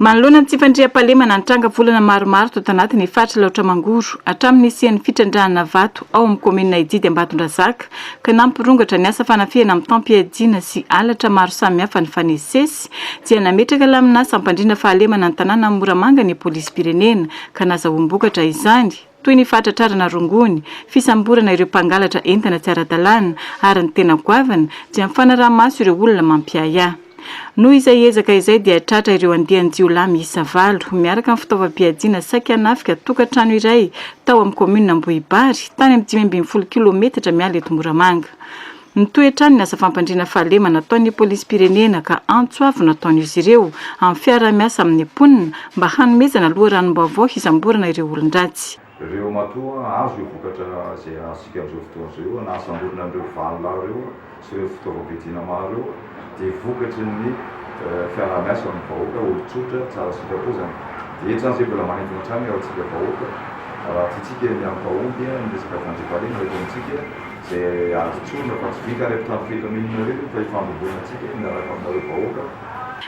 Manoloana ny tsy fandriampahalemana ny tranga volana maromaro tato anatin'ny faritra Alaotra Mangoro, hatramin'ny nisian'ny fitrandrahana vato ao amin'ny kaominina Ididy Ambatondrazaka ka nampirongatra ny asa fanafihana mitam-piadiana sy halatra maro samihafa nifanesisesy dia nametraka laminà sampandriana fahalemana ny tanànan'i Moramanga ny polisim-pirenena ka nazahoam-bokatra izany. toy ny fahatratrarana rongony, fisamborana ireo mpangalatra entana tsy ara-dalàna ary ny tena goavana dia ny fanaraha-maso ireo olona mampiahiahy. Noho izay ezaka izay dia tratra ireo andian-jiolahy miisa valo miaraka amin'ny fitaovam-piadiana saiky hanafika tokantrano iray tao amin'ny kaominina Ambohibary, tany amin'ny dimy ambin'ny folo kilaometatra miala eto Moramanga. Mitohy hatrany ny asa fampandriana fahalemana ataon'ny polisim-pirenena ka antso avo no ataon'izy ireo amin'ny fiaraha-miasa amin'ny mponina mba hanomezana loharanom-baovao hisamborana ireo olon-dratsy. Ireo matoa hahazo ireo vokatra izay azontsika amin'izao fotoana izao eo na hahasamborina an'ireo valo lahy ireo sy ireo fitaovam-piadiana maro ireo dia vokatry ny fiaraha-miasa amin'ny vahoaka, olon-tsotra, tsara sitrapo izany. Dia eto izany izay mbola manintona hatrany ao amintsika vahoaka raha tiantsika ny hampahomby ny resaka fandriampahalemana eto amintsika. izay azo tsorina fa tsy vita ary amin'ny trano fahita mino nareo io fa ifandrobona tsika io miaraka aminareo vahoaka.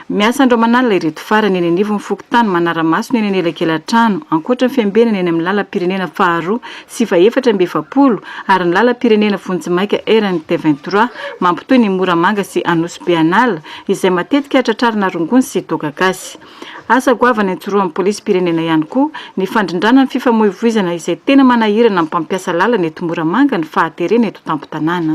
Miasa andromanalina ireto farany eny anivon'ny fokontany Manaramaso ny eny anelakelantrano, ankoatra ny fiambenana eny amin'ny lalam-pirenena faharoa sy fahefatra amby efapolo ary ny lalam-pirenena vonjimaika RNT vingt trois mampitohy ny Moramanga sy Anosibe an'ala izay matetika tratrarina rongony sy toaka gasy. Asa goavana ijoroan'ny polisim-pirenena ihany koa ny fandrindrana ny fifamoivoizana izay tena manahirana ny mpampiasa lalana eto Moramanga ny fahaterena eto an-tampon-tanàna.